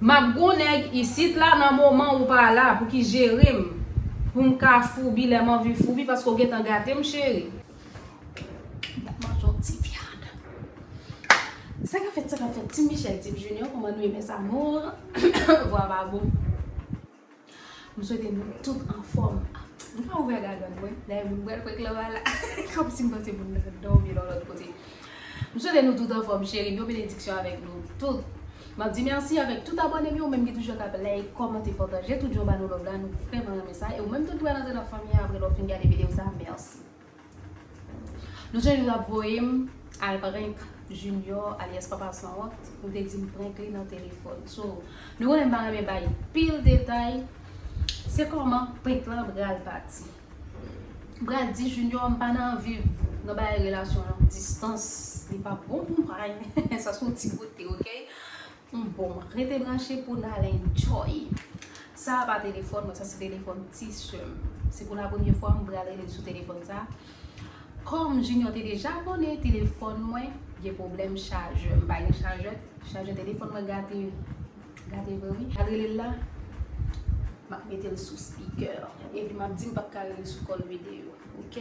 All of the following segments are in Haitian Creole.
Map gon nèg isit la nan moman ou pa la pou ki jerem pou m ka foubi lè m anvi foubi paske ou gentan gate m cheri. Map manje yon ti vyann. Sa kap fèt sa kap fèt team Michel team Junior kòman nou ye mes amours vwa pa bon. M swete nou tout anfòm. M pa ouvè gagann mwen, dayè moun pral kwè Clara la. Kòmsi m panse moun nan dòmi nan lòt kote. M swete nou tout anfòm cheri m yo benediksyon avèk nou tout. M ap di mèsi avèk tout abòne m yo menm ki toujou ap like, kòmante, pataje tout jan ba nou love la nou vrèman renmen sa e ou menm tou ki pral antre nan fanmi an aprè lè w fin gade videyo sa mèsi. Nou chak jou ap voye m al prank Junior alyas papa sanwont nou te di m prank li nan telefòn so nou konnen m pa renmen bay pil detay se kòman prank lan pral pati m pral di Junior m pa nan anvi nan bagay relasyon long distans li pa bon pou mwen sa son ti kote ok. Humm bon rete branche pou nal enjoy. Sa a pa telefòn mwen sa se telefòn ti seum. Se pou la premye fwa m pral relel sou telefòn sa. Kòm Junior te deja konnen telefòn mwen gen pwoblèm chajè. M pa gen chajè, chajè telefòn mwen gate. Gate vre wi. Al relel la. Map metel sou speaker. Epi map di m pap ka relel sou call video. Ok.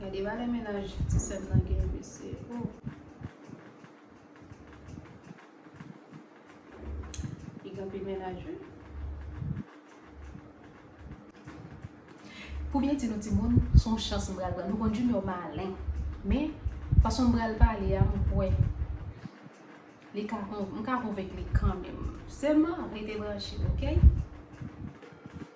Gade valè mennaj ti sèm nan gen mesye ooh. Li gen anpil mennaj wi. Pou byen di nou timoun son chans m pral pran. Nou konn Junior malen men fason m pral pale a m kwè li ka m ka konvenk li kanmenm. Sèlman rete branche ok.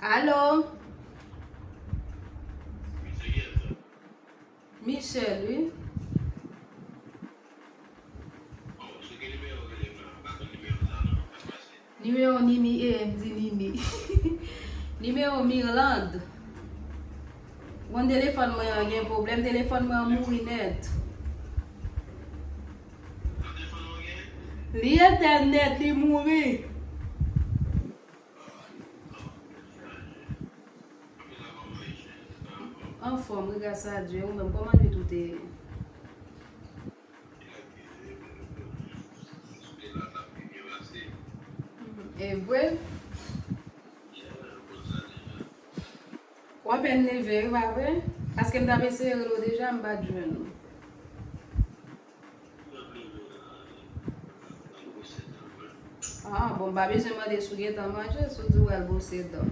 Alo. Michel wi. Nimewo Nini e m di Nini. Nimewo Mirlande. Bon telefòn mwen an gen pwoblèm, telefòn mwen an mouri nèt. Li etè nèt li mouri. Anfom wi gras a Dye ou menm koman nwit ou te ye. Evre. Ou apèn leve wi pa vre? Paske m tap eseye rele w deja m pat jwenn ou. Ah bon m pa bezwen mande si w gentan manje si w di w al bwose dan.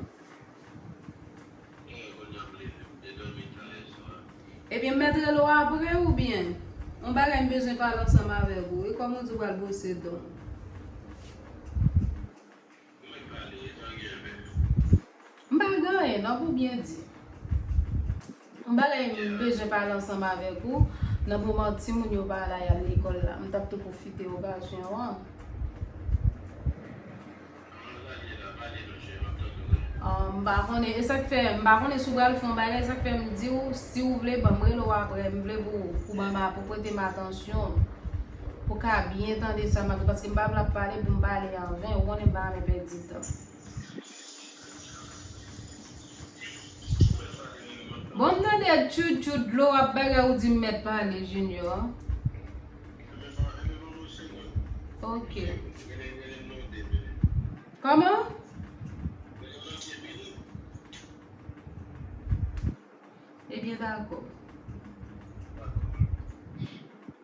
Ebyen m mèt rele w apre oubyen? Yon bagay m bezwen pale ansanm avèk ou wi kòm ou di w al bwose dan w. Mwen pale e tan gen men. M pa gen anyen nan pou byen di. Yon bagay m bezwen pale ansanm avèk ou nan moman timoun yo pa la y al lekòl la. M t ap tou pwofite okazyon an. An pale la, pale non cheri m ap tande w wi. M pa konnen e sa k fè m pa konnen si w pral fè yon bagay sa k fè m di w si w vle ban m rele w aprè m vle pou w pou ban m pou w prete m atansyon. Pou ka byen tande sa map di paske m pa vle ap pale pou m pale an ven ou konnen m pa renmen pèdi tan. Bon m tande tchout tchout dlo ap bagay ou di m mèt pale Junior. Ok. Koman? Ebyen dakò.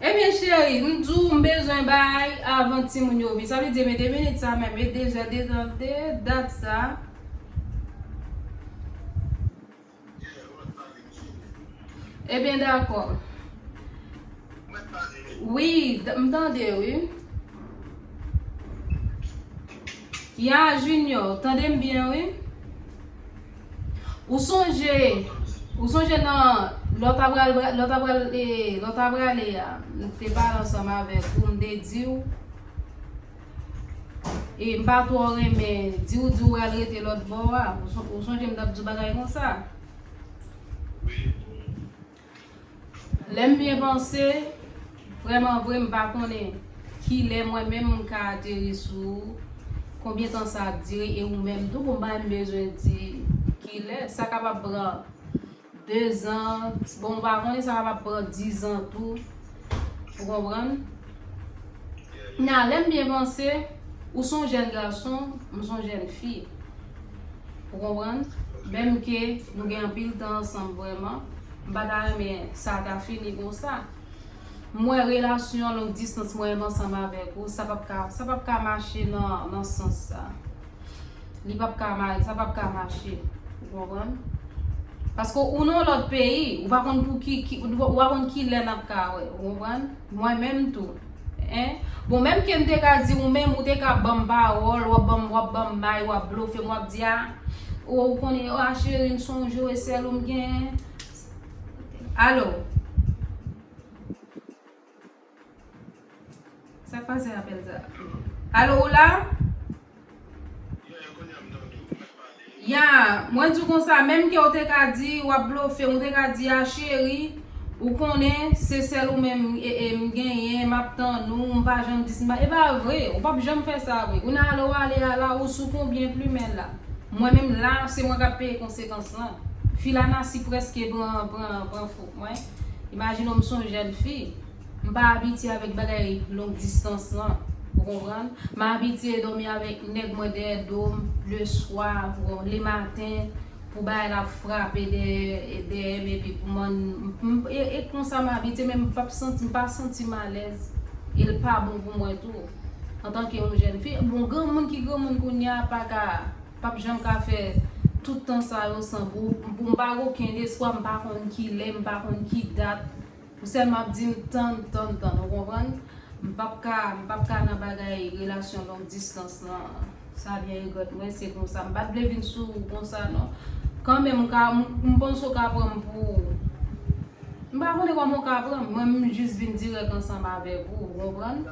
Ebyen cheri, m di w m bezwen bay avan timoun yo vini. Sa vle di men 2 minit sa menm e deja detente dat sa. Ebyen dakò. Wi, m tande w wi. Ya Junior, tande m byen wi. Ou sonje Ou sonje nan lò ta pral lò ta pral e lò ta pral e a m te pale ansanm avèk ou m te di ou e m pa twò renmen di ou di ou pral rete lòt bò a ou sonje m t ap di w bagay konsa. Lè m byen panse, vrèman vre m pa konnen ki lè mwen menm m ka ateri sou ou, konbyen tan sa ap dire e ou menm tou konbyen m bezwen di ki lè. Sa kapab pran dezan, bon m pa konnen sa kapab pran dizan tou. Ou konprann? Nan lè m byen panse, ou s on jèn gason, m s on jèn fi. Ou konprann? Menm ke nou gen anpil tan ansanm vrèman, m pa ta renmen sa ta fini konsa. M wè relasyon long distans mwen menm ansanm avèk ou, sa p ap ka mache nan sans sa. Li pap ka ma, sa pap ka mache. Ou konprann? Paske ou nan yon lòt peyi, ou pa konn pou ki, ki, ou pa konn ki lè nap ka wè. Ou konprann? Mwen menm tou. Hein? Bon menm ke m te ka di ou menm, ou te ka banm pawòl, wap banm, wap banm may, wap blofe m, wap di a, o ou konnen, a cheri m sonje w e sèl ou m genyen. Allo? Sak pase apel sa. Allo ou la? Yeah kounya m tande w mwen pale. Yeah mwen di w konsa menm ke w te ka di wap blofe ou te ka di a cheri ou konnen se sèl ou menm m genyen map tann ou m pa janm di e pa vre ou pap janm fè sa vre kounye a lè w ale a la ou sou konbyen plumen la mwen menm la se mwen kap peye konsekans lan fi la nasi preske pran pran pran fou. Mwen, imajine w m s on jèn fi, m pa abitye avèk bagay long distans lan, ou konprann? M abitye dòmi avèk nèg mwen dèyè do m le swa, le maten, pou bagay la frape dèyè m epi pou man m e konsa m abitye men m pap santi m pa santi m alèz e l pa bon pou mwen tou antanke yon jèn fi. Bon granmoun ki granmoun kounye a pa ka. Pap janm ka fè tout tan sa yo san gou pou m pa gen okenn espwa m pa konn kilè m pa konn ki dat pou sèlman ap di m tann tann tann ou konprann m pap ka m pap ka nan bagay relasyon long distans lan sa byen regrèt mwen se konsa m pat vle vin sou ou konsa non kanmenm m ka m panse ou ka pran m pou m pa konnen kòman ou ka pran m mwen menm m jis vin dirèk ansanm avèk ou ou konprann.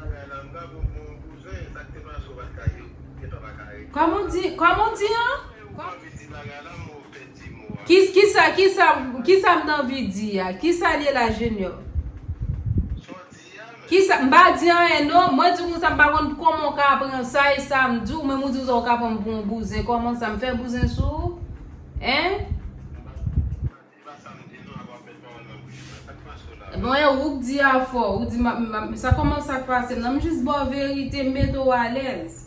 Epa pa ka rete Kòman w di, kòman w di an? Epa yo pa anvi di bagay la mo pèdi mo a. Ki kisa kisa kisa m t anvi di a? Kisa l ye la Junior? Sa w di a menm? Kisa, m pa di anyen non, mwen di w konsa m pa konn kòman w ka pran sa e sa m di w menm ou di konsa w ka pran m pou yon bouzen kòman sa m fè bouzen sou ou? Hein? Bon e ou k di a fò, ou di map, map, sa kòman sak pase m nan, m jis baw verite, m mete w alèz.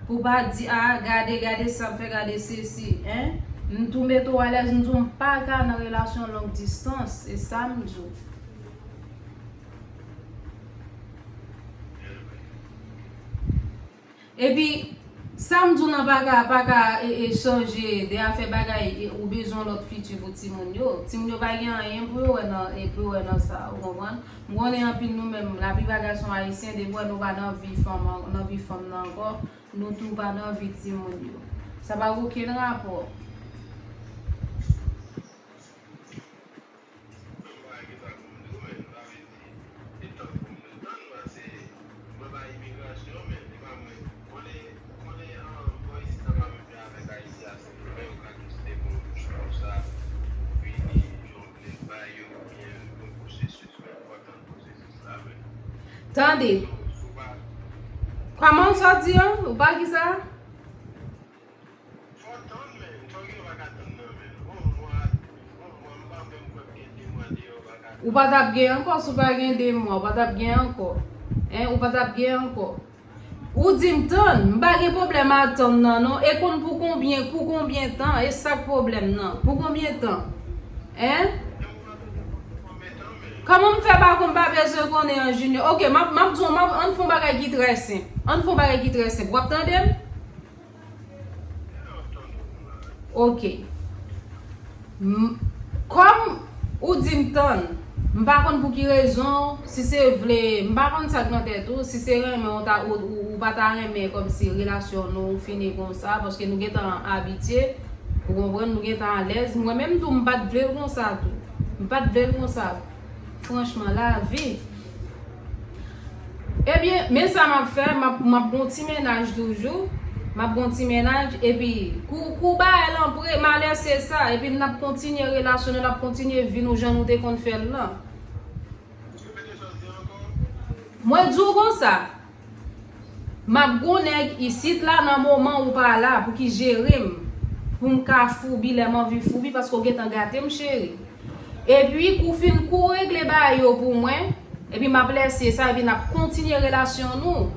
Pou pa di ah gade gade sal fè gade sesi hein m tou met ou alèz m di w m paka nan relasyon long distans e sam di w. Epi sam di w nan paka a paka e chanje de afè bagay ou bezwen lòt fiti pou timoun yo timoun yo pa gen anyen pou yo wè nan sa ou konprann. M konnen anpil nou menm laplipa gason ayisyen depi wè nou pa nan vi fanm nan vi fanm nan ankò nou tou pa nan vi timoun yo sa pa gen okenn rapò. Tande, kòman ou sot di an? Ou pa ki sa? Ou pa tap gen ankò, si ou pa gen 2 mwa, ou pa tap gen ankò. Hein, ou pa tap gen ankò. Ou dim tann, m pa gen pwoblèm a tann nan non e konn pou konbyen pou konbyen tan e sak pwoblèm nan pou konbyen tan hein Kòman m fè pa konn m pa bezwen konnen an Junior ok map map di w ann fon bagay ki trè senp ann fon bagay ki trè senp wap tande m Ok. M Kòm ou di m tann, m pa konn pou ki rezon, si se vle, m pa konn sa k nan tèt ou, si se renmen ou ta ou ou pa ta renmen kòmsi relasyon nou fini konsa paske nou gentan abitye, ou konprann, nou gentan alèz. Mwen menm tou m pa t vle l konsa tou. M pa t vle l konsa. Franchman, lavi. Ebyen, men sa m ap fè, m ap m ap gen yon ti mennaj toujou, m ap gen yon ti mennaj, epi kou kou bagay lan pre, m a lese sa, epi n ap kontinye relasyon nou, n ap kontinye vi nou jan nou te konn fè l lan. Mwen di w konsa, m ap gen yon nèg isit la nan moman ou pa la pou ki jere m, pou m ka foubi lè m anvi foubi paske ou gentan gate m cheri. Epi kou fin kou regle bagay yo pou mwen. Epi map lèse sa epi nap kontinye relasyon nou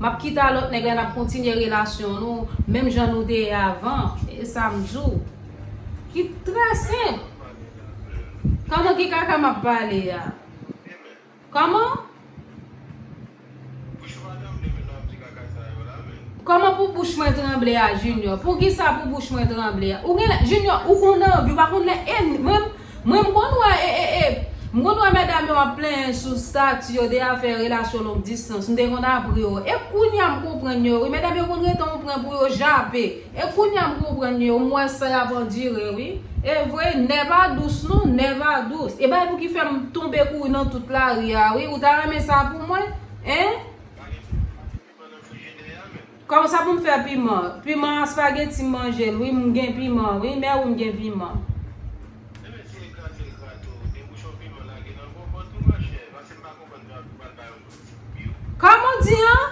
Map kite a lòt nèg la nap kontinye relasyon nou Menm jan nou te ye avan Esam diw Ki trè senp Kòman ki kaka map pale a Kòman? Bouch madanm li menm ap di kaka sa yo la menm. Koman pou bouch mwen tranble a junior poukisa pou bouch mwen tranble a ou genlè junior ou konn anvi ou pa konn lè e mwen mwen m konn wè e e e m konn wè medam yo ap plenyen sou stati yo de afè relasyon long distans m te konn ap ri yo e kounya m konprann yo wi medam yo konn rete on pwen pou yo jape E kounya m konprann yo m wè sa yap andire wi. Evre nèva dous non nèva dous e bagay pou ki fèm tonbe kouri nan tout lari a wi ou ta renmen sa pou mwen hein. Kòman sa poum fè piman. Piman a spageti m manjel wi m gen piman wi mè wi m gen piman. Kòman ou di an?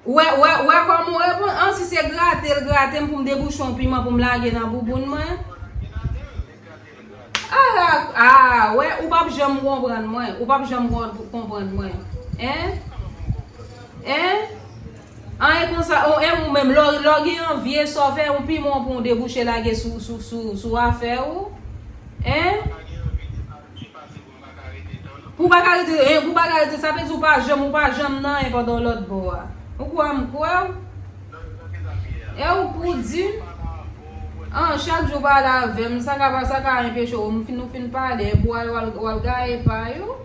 Wè wè wè kòman ou reponn an si se grate l grate m pou m debouchon piman pou m lage nan bouboun mwen Ara aa wè ou pap janm konprann mwen ou pap janm konprann mwen en en an e konsa ou e ou menm lò lò gen yon vye sa w fè yon piman pou w debouche lage sou sou sou sou afè ou en. Pou pa ka rete eh, pou pa ka rete, sa vle di ou pa janm, ou pa janm nan eh pandan w lòt bò a. Ou kwè m kwè w. Nan ki sa m ye a? Eh ou pou di m. An, chak jou w pa la avè m, sa ka pa, sa ka enpeche w, m fin, nou fin pale, eh pou al, w al gaye pa yo.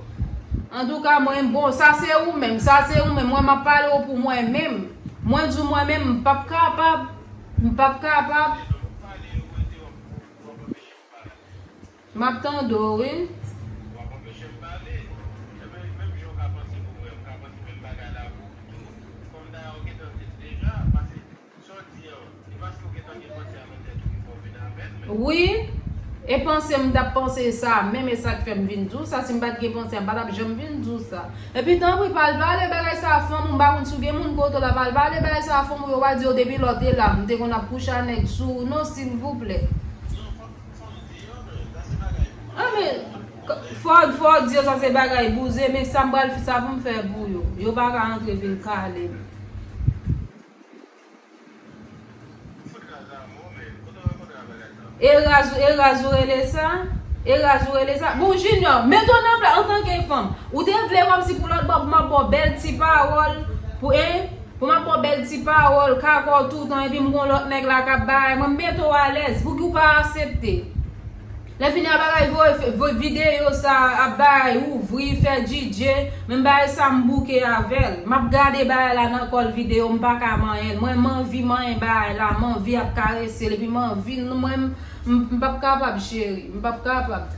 Antouka mwen, bon, sa se ou menm, sa se ou menm, mwen m ap pale w pou mwen menm. Mwen di w mwen menm, m p ap kapab, m p ap kapab. Map tande w wi. Wap anpeche m pale? Ebyen menm jan w ka panse pou mwen, m ka panse menm bagay la pou ou tou. Kòm dayè w gentan di l deja, pase sa w di an, se paske w gentan gen panse a nan tèt ou ki fè w vin avè l men. Wi, e panse m tap panse sa a menm e sak fè m vin di w sa, si m pat gen panse a m pa tap janm vin di w sa. Epi tanpri pa al pale bagay sa a fanm ou, m pa konn si w gen moun kote w la, pa al pale bagay sa a fanm ou yo pa di yo depi lò te la m te konn ap kouche a nèg sou ou non silvouplè. Anmeyy Ford Ford di yo sa se bagay bouzen men sam pral fè sa poum fè pou yo yo paka antre vin kalem. E raz e raz ou rele sa? E raz ou rele sa? Bon Junior, met ou nan plas antanke fanm. Ou te vle kòmsi pou lòt bò pou m ap ba w bèl ti pawòl pou 1. Bon map baw bèl ti pawòl, kakòw toutan epi m gon lòt nèg la kap bay, mwen mete w alèz, pouki w pa asepte? Lè fini a bagay voye videyo sa ap bay ouvri fè DJ, menm bagay sa m bouke avèl. Map gade bagay la nan kòl videyo m paka manyen l, mwen m anvi manyen bagay la, m anvi ap karese l epi m anvi l mwen m pap kapab cheri, m pap kapab.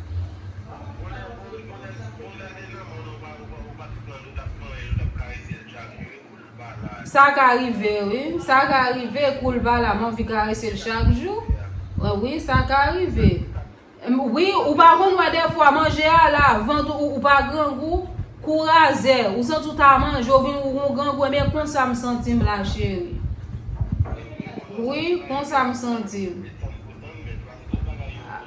Sa ka rive wi, sa ka rive koul bala m anvi karese l chak jou wi sa ka rive wi ou pa konn wè dèfwa manje a la vant ou pa grangou kou razè ou santi ou ta manje ou vin ou grangou ebyen konsa m santi m la cheri wi konsa m santi m.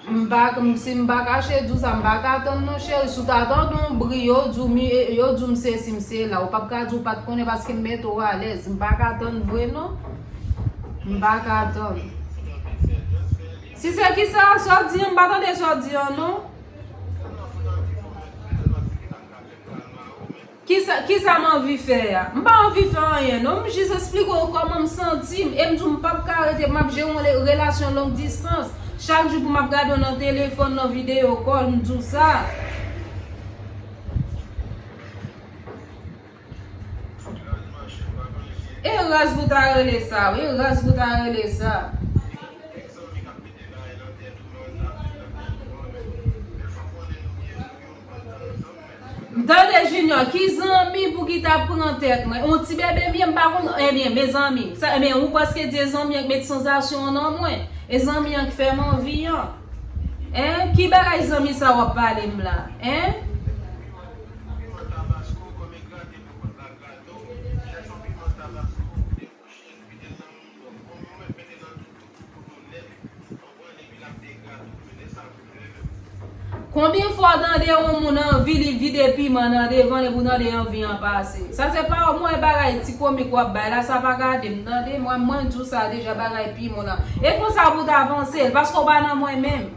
M pa si m pa kache di w sa m pa ka tann non cheri si w ta tande yon bri yo di w mi yo di w m sesi m se la ou pap ka di w pat konnen paske m mete w alèz m pa ka tann vre non m pa ka tann si se kisa sa w di an m pa tande sa w di an non. Kisa kisa m anvi fè a? M pa anvi fè anyen non, m jis esplike w kòman m santi m e m di w m pap ka rete map jere yon relasyon long distans chak jou pou map gade w nan telefòn, nan videyo kòl, m di w sa. E raz pou ta rele sa wi, e raz pou ta rele sa. M tande junior ki zanmi pou ki ta pran tèt mwen yon ti bebe m ye m pa konn ebyen mezanmi sa ebyen ou paske di e zanmi an k met sanzasyon an nan mwen e zanmi an k fè m anvi an en ki bagay zanmi sa wap pale m la en. Konbyen fwa w tande yon moun anvi li vide piman nan devanl epi w tande anvi an pase. Sa se pa yon mwen bagay ti komik wap bay la sa pa gade m tande mwen mwen di w sa deja bagay piman nan e konsa pou w ta panse l paske w pa nan mwen menm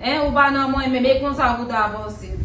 hein ou pa nan mwen menm e konsa pou w ta panse l.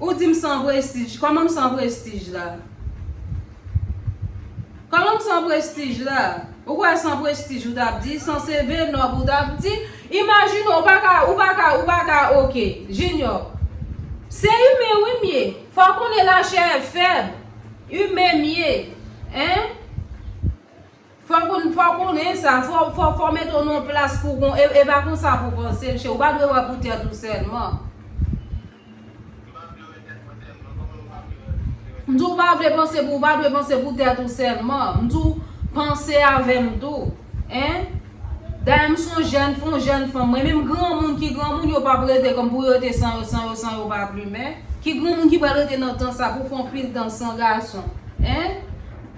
Ou di m san prestij. Kòman m san prestij la? Kòman m san prestij la? Ou kwè san prestij ou t ap di? San CV nòb ou t ap di? Imajine ou pa ka, ou pa ka, ou pa ka ok. Jinyò, Se imen wi m ye. Fò w konnen lachè fèb. Imen m ye. Hein? Fok ou fok ou nen sa fok fok fok mete w nan plas pou kon e e pa konsa pou panse l che ou pa dwe wè pou tèt ou sèlman. M di w pa vle panse pou ou pa dwe panse pou tèt ou sèlman m di w panse avè m tou en dayè m son jèn fon jèn fanm mwen menm granmoun ki granmoun yo pap rete kon pou yo rete san yo san yo san yo pa plumen ki granmoun ki pral rete nan tan sa pou fon pil tan san gason en.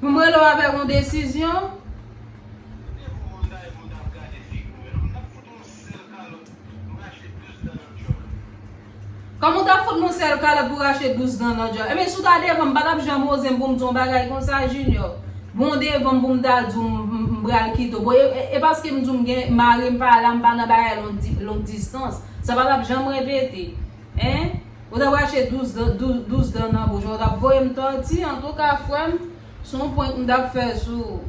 Pou m rele w avèk yon desizyon? Kòman w t ap fout m yon sèl kalòt pou rache douz dan nan dyòl? Ebyen si w ta devan m, m pa t ap janm oze m pou m di w yon bagay konsa Jinyò. Men w devan m pou m ta di w m pral kite w. Bon e paske m di w m gen mari m pa la, m pa nan bagay long distans. Sa pa t ap janm repete. Hein? Ou tap rache 12 dan 12 dan nan bouch ou tap voyem tòti antouka frèm son prank m tap fè sou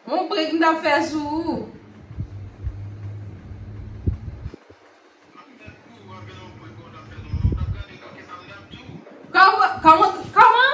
ou on prank m tap fè sou ou Kòman?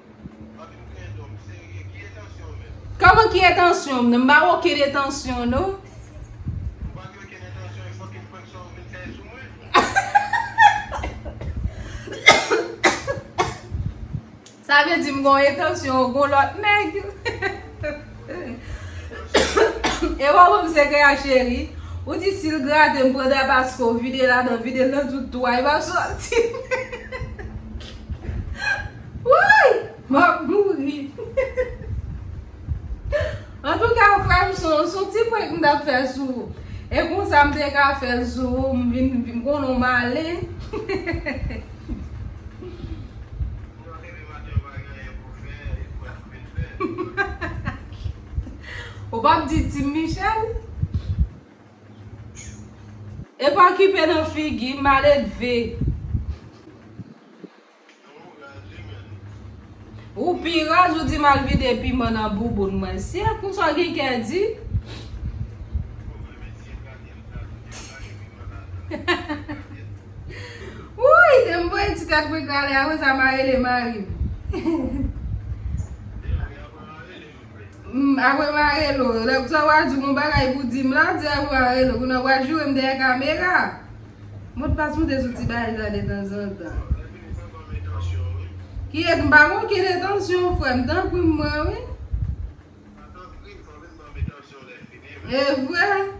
Koman ki etansyon m nan? M pa gen okenn etansyon non. Ou pa gen okenn etansyon e fokin prank sa ou vin fè sou mwen? Sa vle di m gen yon etansyon ou gen yon lòt nèg? E wap wè m se kè a cheri? Ou di si l grate m pran dra paske ou vide ladan, vide l nan tout twou a, li pap soti. Wouyy map mouri Antouka frèm son son ti prank m tap fè sou ou e konsa m te ka fè l sou ou m vin m konnen w male Ou pap di Team Michel? Epa kipe nan figi maledve. Ou pi raz ou di mal vide piman nan bouboun mwen se konsa gen kè di. Wouyy de m voye ti tèt mwen kale a konsa ma rele marim. Apre m arele w. Lè pou sa wa di w gon bagay pou di m la, di apre m arele w. Kounye a wa joure m dèyè kamera. Modpas mwen te sou ti bagay sa detanzantan. Kiyès m pa gen okenn entansyon frè m tanpri m pran wi. Evre.